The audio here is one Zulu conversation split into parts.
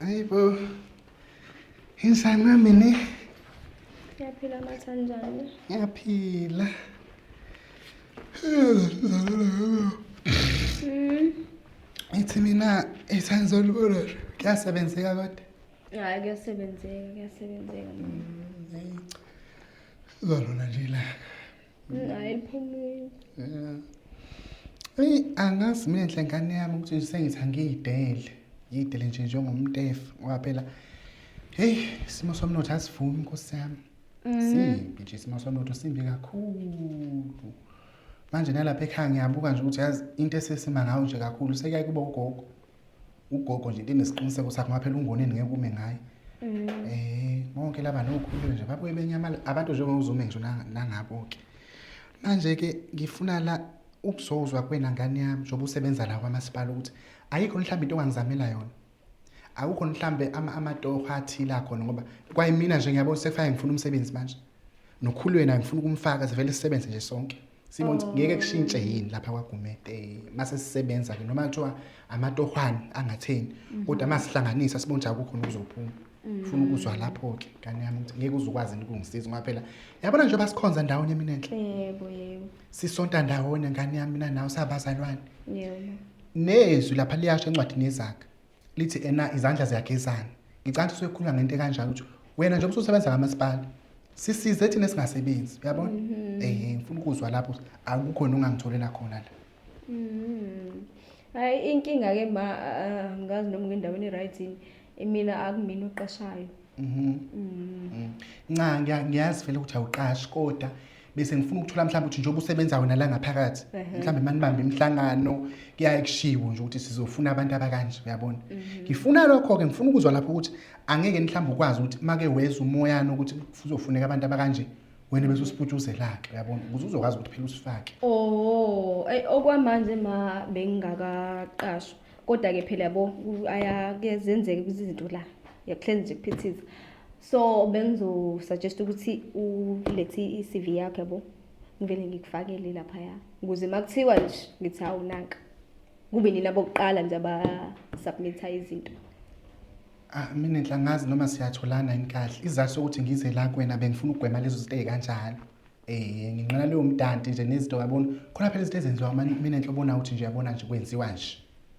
Hey bo. Insani nami ne. Ngiyaphila mathanjani? Ngiyaphila. Mm. Ithi mina isangizolibona kuyasebenzeka kodwa. Hayi kuyasebenzeka kuyasebenzeka. Mm, Zolona nje la. Ayiphumile. Yeah. Eyi angazi mina nhle ngane yami ukuthi sengithi angiyidele. Ngiyidele nje njengomtefu ngoba phela heyi isimo somnotho asivumi nkosi yami. Mhm. Simbi nje isimo somnotho simbi kakhulu. Manje nalapha ekhaya ngiyabuka nje ukuthi yazi into esesima ngayo nje kakhulu sekuyaye kuba ugogo. ugogo nje enesiqiniseko sakho ngaphela ungoneni ngeke ume ngaye eh bonke laba nokhulu nje babuye benyamala abantu njengozume ngisho nanga- nangabo-ke manje-ke ngifuna la ukuzozwa kwena ngane yami njengoba usebenza la kwamasipala ukuthi ayikho mhlawumbe into ongangizamela yona akukho mhlawumbe ama- amatoho athile akhona ngoba kwayimina nje ngiyabona sekufake ngifuna umsebenzi manje nokhulu yena ngifuna ukumfaka sivele sisebenze nje sonke Simons oh. ngeke kushintshe yini lapha kwaGumede eh, mase sisebenza ke noma kuthiwa amatohwane angatheni mhm. kodwa masihlanganisa sibone ukuthi akukho nokuzophuma mhm. funa ukuzwa lapho ke kani yami ukuthi ngeke uzokwazi ukungisiza ngoba phela yabona nje basikhonza ndawonye mina enhle yebo yebo sisonta ndawonye ngani yami mina nawe sabazalwane yebo nezwi lapha liyasho encwadini yezakhe lithi ena izandla ziyagezana ngicabanga ukuthi usekhuluma ngento ekanjalo ukuthi wena njengoba ususebenza kamasipala sisize thina esingasebenzi uyabona mhm. eh ngifuna ukuzwa lapho akukho nongangitholela khona la mhm. hayi inkinga ke ma ngazi noma ngendaweni right mina akumina uqashayo mhm. mm. mm. nca ngiyazi vele ukuthi awuqashi kodwa bese ngifuna ukuthola mhlawumbe ukuthi njengoba usebenza wena la ngaphakathi mhlawumbe manibambe imihlangano kuyaye kushiwo nje ukuthi sizofuna abantu abakanje uyabona mhm. ngifuna lokho-ke ngifuna ukuzwa lapho ukuthi angeke mhlawumbe ukwazi ukuthi make weza umoyana ukuthi kuzofuneka abantu abakanje wena bese usiputshuzela-ke uyabona ukuze uzokwazi ukuthi phela usifake o oh, okwamanje ma bengingakaqashwa kodwa-ke phela yabo ayake zenzeke kwizinto la yakuhlezi nje kuphithiza so bengizosuggest ukuthi ulethe i-cv yakho yabo ngivele ngikufakele laphaya ukuze uma kuthiwa nje ngithi hawu nanka kube nina bokuqala nje abasubmitha izinto Ah mina ngihlangazi noma siyatholana yini kahle. Izathu sokuthi ngize la kuwena bengifuna ukugwema lezo zinto ezikanjalo. Eh nginqala leyo mdanti nje nezinto yabona. Khona phela izinto ezenziwa mina enhle ubona ukuthi nje yabona nje kwenziwa nje.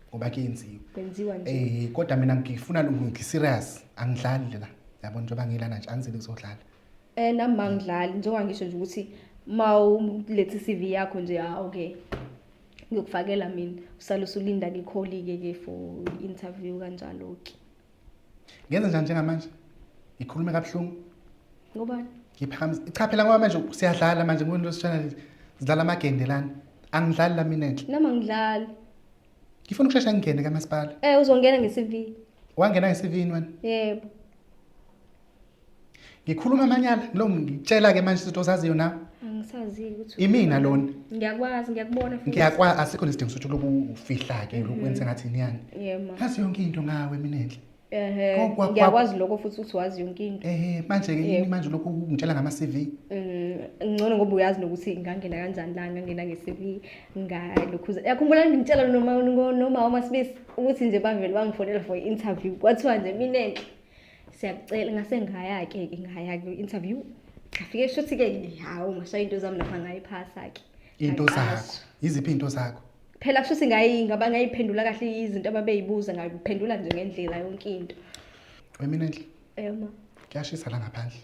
Ngoba kuyenziwa. Kwenziwa nje. Eh kodwa mina ngifuna ngi serious angidlali la. Yabona njengoba ngilana nje angizeli kuzodlala. Eh nami mangidlali njengoba ngisho nje ukuthi mawulethe CV yakho nje ha ah, okay. Ngiyokufakela mina usale usulinda ke kholi ke ke for interview kanjalo ke. ngenze njani njengamanje ngikhulume kabuhlungu ngubani ngiphakamisa ichaphela ngoba manje siyadlala manje ngibona into esishana lezi zidlala amagende lana angidlali la mina nje noma ngidlali ngifuna ukushesha ngingene kamasipala eh uzongena nge-cv wangena ngesivini wena yebo ngikhuluma amanyala lo ngitshela-ke manje izinto ozaziyo na angisazile ukuthi imina lona ngiyakwazi ngiyakubona futhi ngiyakwazi asikho nesidingo sokuthi uloku ufihla-ke lokhu wenze ngathi niyani yema ngazi yonke into ngawe mina enhle ehe Kwa- kwa- kwa- ngiyakwazi lokho futhi ukuthi wazi yonke into ehe manje-ke yini Yebo. manje lokhu ungitshela ngama-cv Mm, ngcono ngoba uyazi nokuthi ngangena kanjani la ngangena nge-cv ngalokhuza yakhumbula ngimtshela noma noma umasibisi ukuthi nje bavele bangifonela for i-interview kwathiwa nje mina enhle siyakucela ngase ngaya-ke ke ngaya kwi-interview ngafike shuthi-ke hawu ngashaya into zami lapha ngayiphasa-ke into zakho yiziphi into zakho phela kusho ukuthi ngayi ngaba ngayiphendula kahle izinto ababeyibuza ngayiphendula nje ngendlela yonke into wemina nhle ema kuyashisa la ngaphandle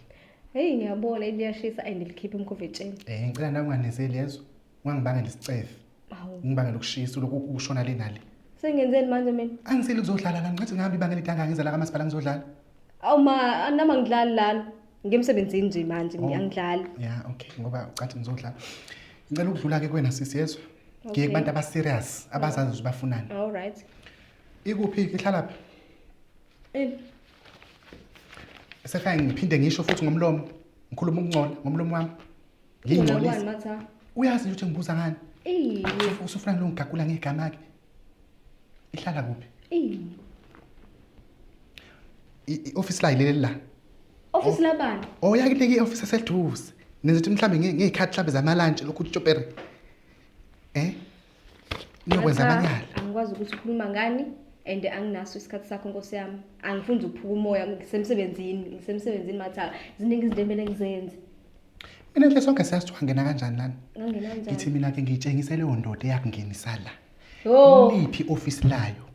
heyi ngiyabona liyashisa and likhiphe umkhovetsheni um eh, ngicela nakunganezeli yezo ungangibangela isicefe Hawu. ngibangela ukushisa lokhu ukushona le nale Sengenzeni manje mina? angiseli kuzodlala la ngicathi ngihambe ibanga elide kangaka ngiza la kamasipala ngizodlala Awu ma anama ngidlali lana. Ngemsebenzini nje manje Oh. ngiyangidlali. ya okay ngoba ucathi ngizodlala ngicela ukudlula-ke kuwena sisi yezwa ngiye Okay. kubantu abaserious abazazi ukuthi bafunani All right. ikuphi-ke ihlalaphi Eh, sefike ngiphinde ngisho futhi ngomlomo ngikhuluma ukungcola ngomlomo wami Ngingcolisa. Matha. Uyazi ukuthi ngibuza ngani? Eyi. Usufuna lo ngigagula ngegama ke. Ihlala kuphi? Eyi. I-office la ilele la. Office oh. labani? Oh yakunika i-office eseduze. Nenza ukuthi mhlambe ngezikhathi mhlambe zama lunch lokhu utshopere. Eh? Niyokwenza amanyala. Angikwazi ukuthi ukhuluma ngani and anginaso isikhathi sakho nkosi yami. Angifundi ukuphuka umoya ngisemsebenzini, ngisemsebenzini mathaka. Ziningi izinto emele ngizenze. Mina nje sonke siyazi ukuthi wangena kanjani lana. Ngangena kanjani? Ngithi mina ke ngiyitshengise leyo ndoda eyakungenisa la. Yho. Liphi office layo?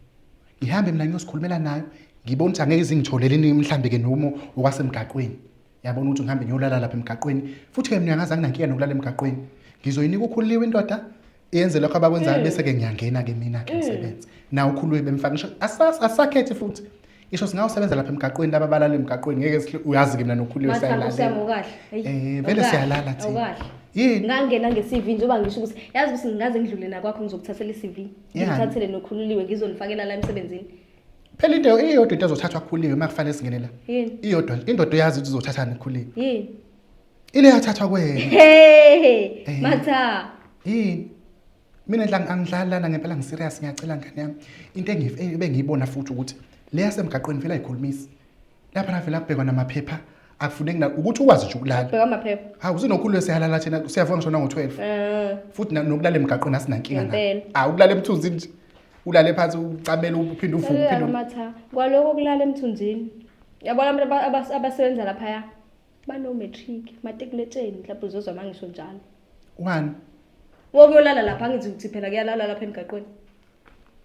Ngihambe mina ngiyosikhulumela nayo. Ngibona ukuthi angeke izingitholele ini mhlambe ke nomo okwasemgaqweni. yabona ukuthi ngihambe ngiyolala lapha emgaqweni futhi ke mina angazange nankinga nokulala emgaqweni ngizoyinika ukhuliwe indoda yenze lokho abakwenzayo hmm. bese-ke ngiyangena-ke mina-ke hmm. msebenzi nawo ukhuluwe bemfaka ngisho asakhethi futhi isho singawusebenza lapha emgaqweni laba balala emgaqweni ngeke uyazi-ke mina nokhuliwe sayalala eh, vele siyalala thina yini ngangena nge-cv njengoba ngisho ukuthi yazi ukuthi ngingaze ngidlule nakwakho ngizokuthathela i-cv ngithathele nokhululiwe ngizonifakela la emsebenzini Phela into iyodwa into ezothathwa khuliwe uma kufanele singene la. Yini? Iyodwa indoda uyazi ukuthi uzothathani khuliwe. Yini? Ile yathathwa kwena. Hey! Eh. Matha. Yini? Mina la angidlali lana ngempela ngiserious ngiyacela ngane yami. Into engife bengiyibona futhi ukuthi le yasemgaqweni vele ayikhulumisi. Lapha la vela kubhekwa namaphepha akufuneki na ukuthi ukwazi nje ukulala. Bheka amaphepha. Hawu zinokhulu esihalala thina siyavona ngishona ngo-12. Eh. Futhi na- nokulala emgaqweni asinankinga na. Ngempela. Hawu ukulala emthunzini nje. ulale phansi ucamele uphinde uvuke uphinde Selulala matha kwaloko kulala emthunzini yabona abantu aba- abas- abasebenza laphaya banomatric matikuletsheni mhlawumbe uzozwa uma ngisho njalo wani wokuyolala lapha angithi ukuthi phela kuyalalwa lapha emgaqweni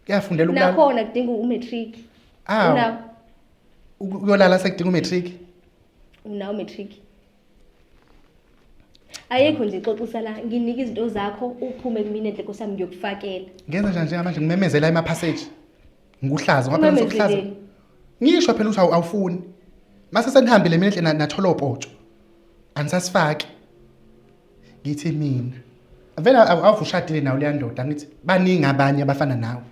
kuyafundela ukulala nakhona kudinga umatric Awu. unawo uku- uyolala sekudinga umatric unawo umatric ayikho nje xoxisa la nginike izinto zakho uphume kumina enhle nkosami ngiyokufakela ngenza njani njengamanje ngimemezela emaphasage ngikuhlaza ngoba phela sokuhlaza Umemezeleni. ngisho phela ukuthi awu- awufuni mase senihambile mina enhle na- nathola opotsho anisasifaki ngithi mina vele awu- awuvushadile nawe leya ndoda ngithi baningi abanye abafana nawe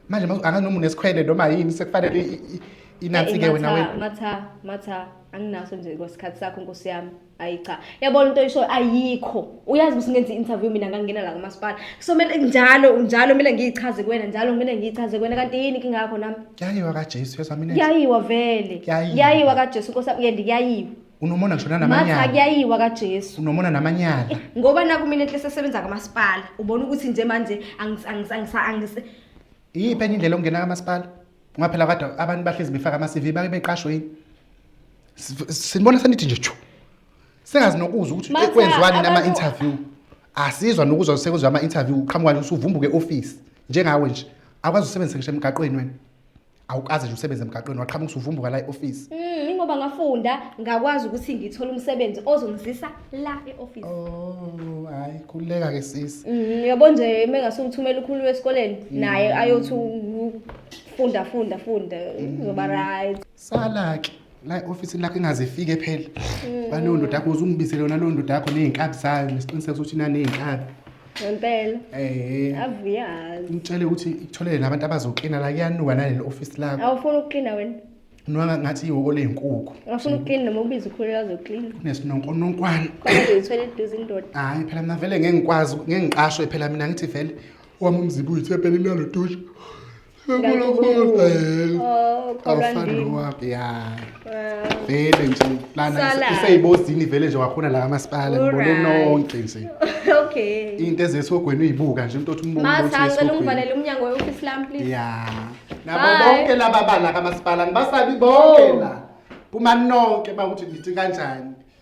manje manje angazi noma unesikhwele noma yini sekufanele i- i- i- inansi ke wena wena matha matha anginaso nje kwesikhathi sakho nkosi yami ayi cha yabona into oyishoyo ayikho uyazi ukuthi ngenza i-interview mina ngangena la kumasipala so kumele njalo njalo kumele ngiyichaze kuwena njalo kumele ngiyichaze kuwena kanti yini inkinga yakho nami yayiwa kajesu yezwa mina kuyayiwa vele Kuyayiwa. kuyayiwa kajesu nkosi yami uyende kuyayiwa unomona ngisho matha nanamanyala kuyayiwa kajesu unomona namanyala Eh, ngoba nakumina enhle sesebenza kamasipala ubona ukuthi nje manje angis- angis- angis- angis- iyiphi enye indlela okungena kamasipala ngoba phela kade abantu bahlezi befaka ama-cv bake beqashwe yini Siv- sinibona senithi nje tshu singazi nokuzwa ukuthi Matha, kwenziwani abantu- nama-interview asizwa nokuzwa sekuzwa ama-interview uqhamuka nje usuvumbuke ofisi njengawe nje akwazi usebenzisa ngisho emgaqweni wena awukaze nje usebenze emgaqweni waqhamuka usuvumbuka la e-ofisi Mm, ingoba ngafunda ngakwazi ukuthi ngithole umsebenzi ozongizisa la e-office. oh hayi khululeka ke sisi Mm, yabo nje mengasumthumela ukhulu esikoleni naye ayothi u- funda funda funda uzoba right. sala-ke la e-ofisini lakho ingaze ifike phela balowo ndoda yakho uze ungibisele yona lowo ndoda yakho ney'nkabi zayo nesiqiniseko sokuthi naney'nkabi ngempela eh avuyazi ngitshele ukuthi ikutholele nabantu abazoklina la kuyanuka naleli office lakho awufuni ukuklina wena nwa ngathi ihoko lezinkukhu awufuni ukuklina noma ubiza ukhulela azoklina kunesinonkononkwana kwazoyithwele eduze indoda hayi phela mina vele ngeke ngikwazi ngeke ngiqashwe phela mina ngithi vele wami umzibu uyithe phela inalo dusha vele nje lana iseyibozini vele nje wakhona la kamasipala ngibone nonke nje okay into ezesogweni uyibuka nje umuntu othi umuntu masacela ungivalele umnyango weofisi lami please ya nabo bonke laba bala kamasipala ngibasabi bonke oh. la kuma nonke bakuthi ngithi kanjani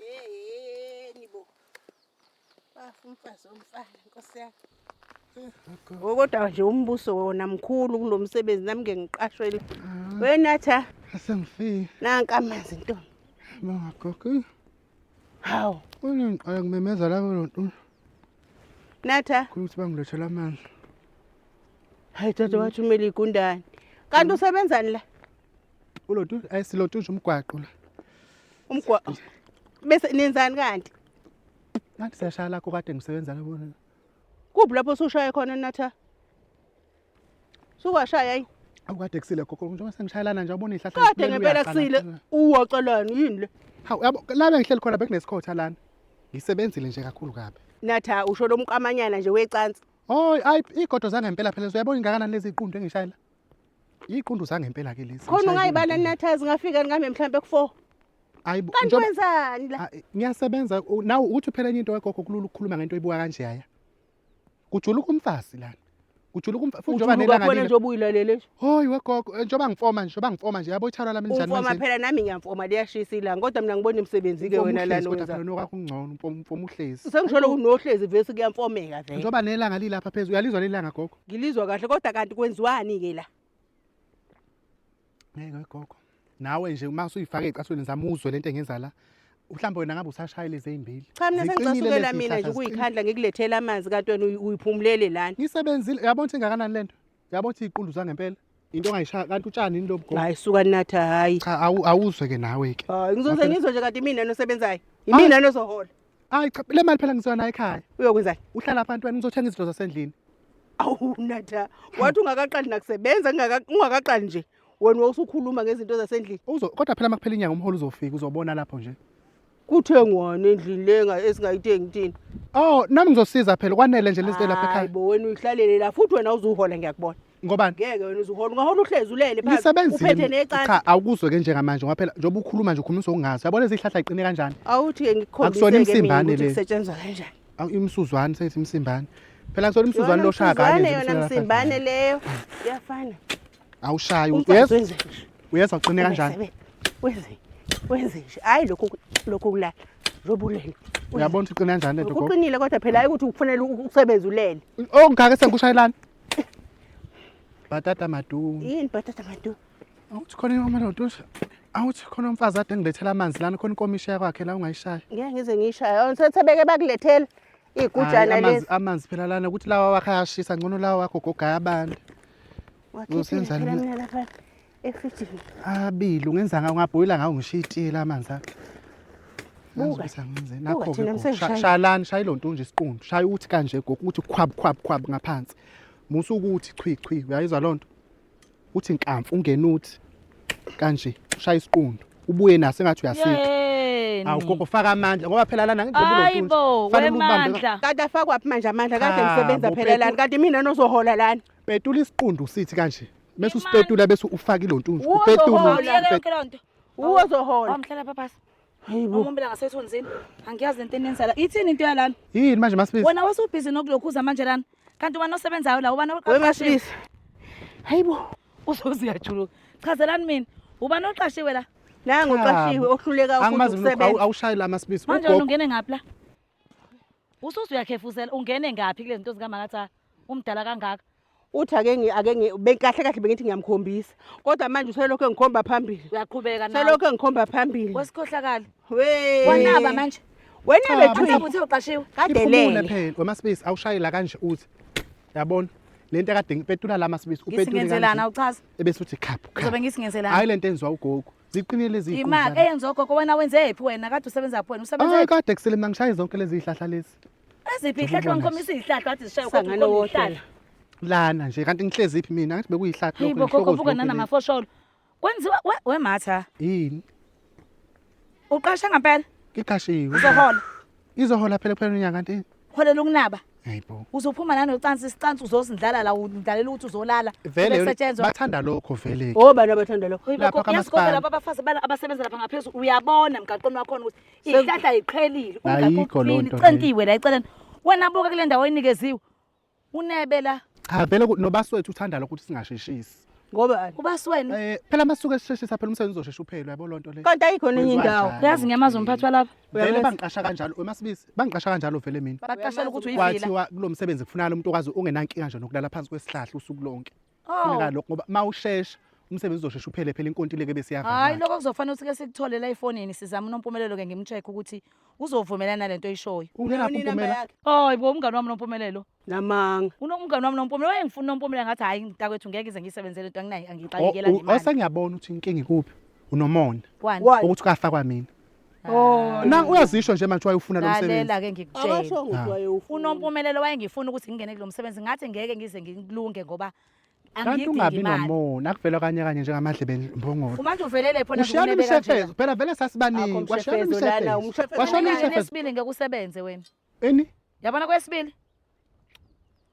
yeyeni bo bafa umfazi omfana nkosi yami kodwa nje umbuso wona mkhulu kulo msebenzi nami ngeke ngiqashwele ah. wenatha asengifike nanka amanzi ntombi bangagogi hawu unengiqala kumemeza labo lonto natha ukuthi bangilethela amanzi hayi tata wathi umele igundane kanti usebenzani la ulotu ayisilotusha umgwaqo la umgwa bese nenzani kanti ngathi siyashaya lakho kade ngisebenza labona kuphi lapho usushaya khona natha sukwashaya ayi awukade kusile gogo njengoba sengishayelana nje abona ihlahla kade liphelele ngempela uyaqala. kusile uwocelani yini le hawu yabo la bengihleli khona bekunesikhothi lana ngisebenzile nje kakhulu kabi natha usho lomqamanyana nje wecansi Hoy ay igodo zangempela phela uyabona ingakanani lezi iqundu engishayela. Iqundu zangempela ke lezi. Khona ungayibala nathazi ngafika ngame mhlambe ku4. Ayi kanti wenzani la? Ngiyasebenza nawe ukuthi phela enye into kagogo kulula ukukhuluma ngento ebuka kanje yaya. Kujuluka umfazi lana. Kujuluka umfazi futhi njoba nelanga lile. Njoba uyilalele nje. Hoyi wegogo eh, njoba ngifoma nje njoba ngifoma nje yabo ithalwa lami njani manje. Ngifoma phela nami ngiyamfoma liyashisa ilanga kodwa mina ngibona imisebenzi ke wena lana wenza. Kodwa nokho kungcono umfoma uhlezi. Sengisholo unohlezi vese kuyamfomeka vele. Njoba nelanga lilapha phezulu uyalizwa lelanga gogo. Ngilizwa kahle kodwa kanti kwenziwani ke la? Ngeke gogo. Nawe nje uma usuyifaka ecathulweni zami uzwe lento engenza la. Mhlawumbe wena ngabe usashayile ezimbili. Cha mina sengicasukela mina nje ukuyikhandla ngikulethela amanzi kanti wena uyiphumulele lana. Ngisebenzile yabona ukuthi ingakanani lento. Yabona ukuthi iqulu zangempela. into ongayishaya kanti utshani yini lo mgomo hayi suka natha hayi cha awu- awuzwe ke nawe ke hayi ngizoze Ngaphela- ngizwe nje kanti imina nosebenzayo imina nozohola hayi cha le mali phela ngizoya nayo ekhaya uyokwenzani uhlala phansi wena ngizothenga izinto zasendlini awu natha wathi ungakaqali nakusebenza ngingaka- ungakaqali nje wena wawusukhuluma ngezinto zasendlini Uzo- kodwa phela makuphela inyanga umholo uzofika uzobona lapho nje Kuthengwani endlini lenga esingayithengi thina? Oh, nami ngizosiza phela kwanele nje lezi lapha ekhaya. Hayibo wena uyihlalele la futhi wena uzuhola ngiyakubona. Ngobani? Ngeke wena uzuhola ungahola uhlezi ulele phansi. Ngisebenzile. Uphethe necala. Cha, awukuzwe ke njenga manje ngoba phela njengoba ukhuluma nje ukhuluma uzokungazi. Yabona izihlahla iqine kanjani? Awuthi ke ngikukhombise Akusona ke mina imsimbane ukuthi le. kusetshenzwa kanjani. Awu imsuzwane seyithi imsimbane. Phela kusona imsuzwane Yona loshaka msuzwane, yona msimbane leyo. Iyafana. awushayi uyezwa uyezwa uqine kanjani wenze wenze nje hayi lokho lokho kulala njengoba ulele uyabona ukuthi uqine kanjani lento kuqinile kodwa phela hayi ukuthi ukufunela ukusebenza ulele ongaka sengikushayelana bhatata madu yini bhatata madu awuthi khona imama lento awuthi khona umfazi ade ngilethela amanzi lana khona inkomisha yakwakhe la ungayishaya ngeke ngize ngiyishaya awunsethebeke bakulethela Igujana Hhayi, amanzi lezi. amanzi phela lana ukuthi lawa wakho ayashisa ngcono lawa wakho goga ayabanda Wakhiphile Uzenzani phela mina? mina lapha efrijini. abili ungenza ngawo ungabhoyila ngawo ngishiye itiye la manzi akho Buka. Nangizukuthi angenzeni. Buka, Nakho-ke thina gogo, sha- msengishayile. shalani shaye lo nto unje isiqundu shaye ukuthi kanje gogo ukuthi khwabu khwabu khwabu ngaphansi musa ukuthi chwi chwi uyayizwa loo nto uthi nkamfu ungena uthi kanje ushaya isiqundu ubuye naso engathi uyasika Yeni. awu gogo faka amandla ngoba phela lana njengoba Hayi unothunzi, bo, fanele ubambe- wemandla. kanti afakwaphi manje amandla kade Cha, ngisebenza bo, phela lana Petu. kanti mina nozohola lana petula isiqundu sithi kanje bese usipetula bese ufaka ilontunzi Uzohola. Awuyeke yonke loo nto. Uwu ozohola. Wamhlela papasa. Hayibo. Umumbela ngasethunzini. Angiyazi lento enenzala. Ithini into yalana? Yini manje masibisi? Wena wasubhizi nokulokhuza manje lana. Kanti ubani osebenzayo la? Ubani Wewe oqashiwe? masibisi. Hayibo. Uzoze uyajuluka. Chazelani mina. Ubani oqashiwe la? Nangu Cha, uqashiwe bo. ohluleka ukuthi Angimazi mina usebenza. awu- awushayi la masibisi. Manje wena Ugogo. ungene ngaphi la? Usuze uyakhefuzela ungene ngaphi kule zinto zikamakatha? Umdala kangaka. uthi ake ngi ake ngi be- kahle kahle bengithi ngiyamkhombisa kodwa manje uselokhu engikhomba phambili uyaqhubeka nawe selokhu engikhomba phambili wesikhohlakali We- wanaba manje wena Cha, bethu mhlawumbe uthe uqashiwe Iphumule kadelele phela wemasibisi awushayela kanje uthi yabona lento kade ngipetula la masibisi upetule ngisingenzelana kanje uchaza ebese uthi khaphu uzobe khaphu ngisingenzelana hayi lento enziwa ugogo ziqinile lezi imali eyenza ogogo wena wenzephi wena kade usebenzaphi wena Ay usebenzephi kade kusele mina ngishaye zonke lezi zihlahla lezi Eziphi ihlahlwa ngikhomisa izihlahlwa athi zishaye kodwa Sangane ukhomisa wodwa. izihlahlwa. lana nje kanti ngihlezi iphi mina ngathi bekuyihlathi Hey lokho bogogo ngihloko buka zilokhu nana le- mafosholo. Kwenziwa we- we matha. yini Uqasha ngempela iqashiwe uzohola. izohola phela kuphela unyaka kanti Holela ukunaba. hayi bo Uzophuma nani ucansi isicansi uzozindlala la udlalela ukuthi uzolala. vele Bese kusetshenzwa. bathanda lokho vele Obani abathanda lokho? Lapha Lapha kamasipala. kamasipala. Lapha abafazi bala abasebenza lapha ngaphezulu uyabona emgaqweni wakhona ukuthi ihlahla yiqhelile Ayikho loo nto leyo. centiwe la eceleni wena buka kule ndawo oyinikeziwe unebe la cha Ah, vele ku- nobaswethu uthanda lokho ukuthi singasheshisi ngoba ubasiweni um phela uma suke sisheshisa phela umsebenzi uzoshesha uphele uyabo loo nto leyo kanti ayikho nenye Kwenziwa indawo njani? uyazi ngiyamazi umphathi walapha vele bangiqasha kanjalo wemasibisi bangiqasha kanjalo vele mina baqashela ukuthi uyivila kwathiwa kulo msebenzi kufunakala umuntu okwazi ungenankinga nje nokulala phansi kwesihlahla usuku lonke funeka oh. lokho ngoba mawushesha umsebenzi uzoshesha uphele phela inkontileke bese yavana hayi lokho kuzofanele usike sikuthole la efonini sizama unompumelelo ke ngimcheck ukuthi uzovumelana nalento oyishoyo ungena kumpumelelo oh ibo umngani wami nompumelelo namanga unomngani wami nompumelelo wayengifuna unompumelelo ngathi hayi mntakwethu ngeke ize ngisebenzele into anginayo angixakekela ngemali osengiyabona ukuthi inkinga ikuphi unomona ukuthi ukafakwa mina Oh, na uyazisho nje manje wayefuna lo msebenzi. Lalela ke ngikutshela. Akasho ukuthi wayewufuna. Unompumelelo wayengifuna ukuthi ngingene kulo msebenzi ngathi ngeke ngize ngilunge ngoba Kanti angiyidingi ungabi imali. nomona akuvela kanye kanye njengamadlebe mbongolo. Kumanje uvelele phona Ushiyana ngikunebe kanje. imishefezo, phela vele Akho sasibaningi. Washiyana mshefezo lana, imishefezo. umshefezo Washiyana Unyaka imishefezo. nesibili ngeke usebenze wena. Eni? Yabona kwesibili.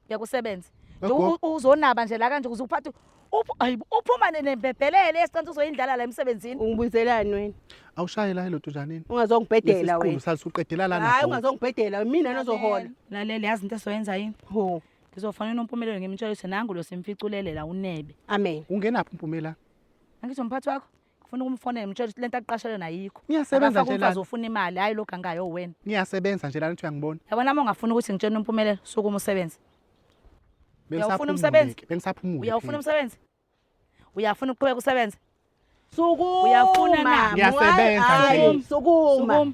Ngiyakusebenza. Nje Yebo. u- u- uzonaba nje la kanje ukuze uphathe uphu- ayi, uphuma ne- nembebhelele esiqanisa uzoyindlala la emsebenzini. Ungibuyiselani wena? Awushaye la hello Tunjanini. Ungazongibhedela Lesi wena. sali suqedela lana. Hayi bhuti. ungazongibhedela mina nozohola. Lalela yazi into esoyenza yini? Ho. Ngizofanele unompumelelo ngimtshela ukuthi nangu lo simficulele la unebe. Amen. Ungenaphi umpumela? Angithi umphathi wakho? Ngifuna ukumfonela ngimtshela ukuthi lento aqashelwe nayikho. Niyasebenza Akafake nje umfazi lana. ufuna imali hayi lo gangayo wena. Niyasebenza nje lana uthi uyangibona. Yabona uma ungafuni ukuthi ngitshele umpumelelo sukuma usebenze. Uyawufuna umsebenzi? Bengisaphumule-ke, Bengisaphumule. Uyawufuna phela. umsebenzi? Uyafuna ukuqhubeka usebenze? Sukuma Uyafuna na? mama. Ngiyasebenza Hayi, nje. Sukuma. Sukuma.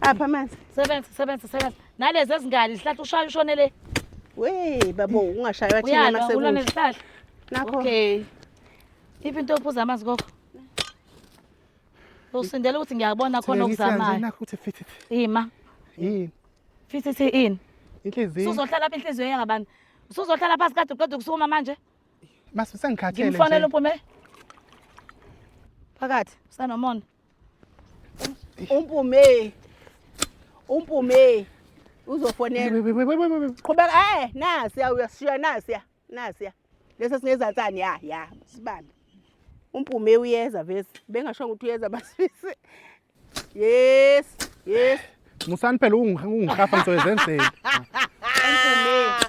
Apha amanzi. Sebenza sebenza sebenza. Nalezi ezingane zihlahla ushaya ushone le. We babo ungashaywa thina Uyalwa masekunje. ulwane zihlahla. Nakho. Okay. Iphi into yokuphuza amanzi kokho? Usindela ukuthi ngiyabona khona Thembisa nje okuzamayo. nakho ukuthi fithi fithi. Ima. Yini? Fithi thi in. Inhliziyo. Usuzohlala phi inhliziyo yangabani? Usuzohlala phansi kade uqeda ukusukuma manje? Masu sengikhathele Ngimfonela nje. uphume. Phakathi usanomona. Umpume. Umpume. Uzofonela. Qhubeka eh nasiya uyashiya nasiya. Nasiya. Lesa singezansani ya ya sibambe. Umpume uyeza vese. Bengasho ukuthi uyeza basifise. Yes. Yes. Musani phela ungihafa ngizoyenzenzela. Umpume.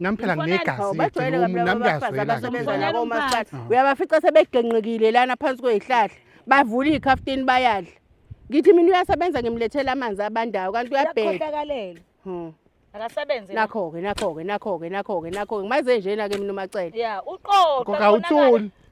Nami phela Mfonele, nginegazi hawu, lethu, bajwayele kabi umuntu laba nami bafazi ngiyazwela abasebenza ngempela. nabo Mfonele uMaskandi. umphathi. uyabafica sebegenqikile lana phansi kwezihlahla bavula iy'khafutini bayadla ngithi mina uyasebenza ngimlethela amanzi abandayo kanti uyabheda Uyakhohlakalela. Hmm. Akasebenze. la. nakho-ke nakho-ke nakho-ke nakho-ke nakho-ke ngimaze njena-ke mina umacele Ya, uqoqa. Ngoba konakala. awuthuli.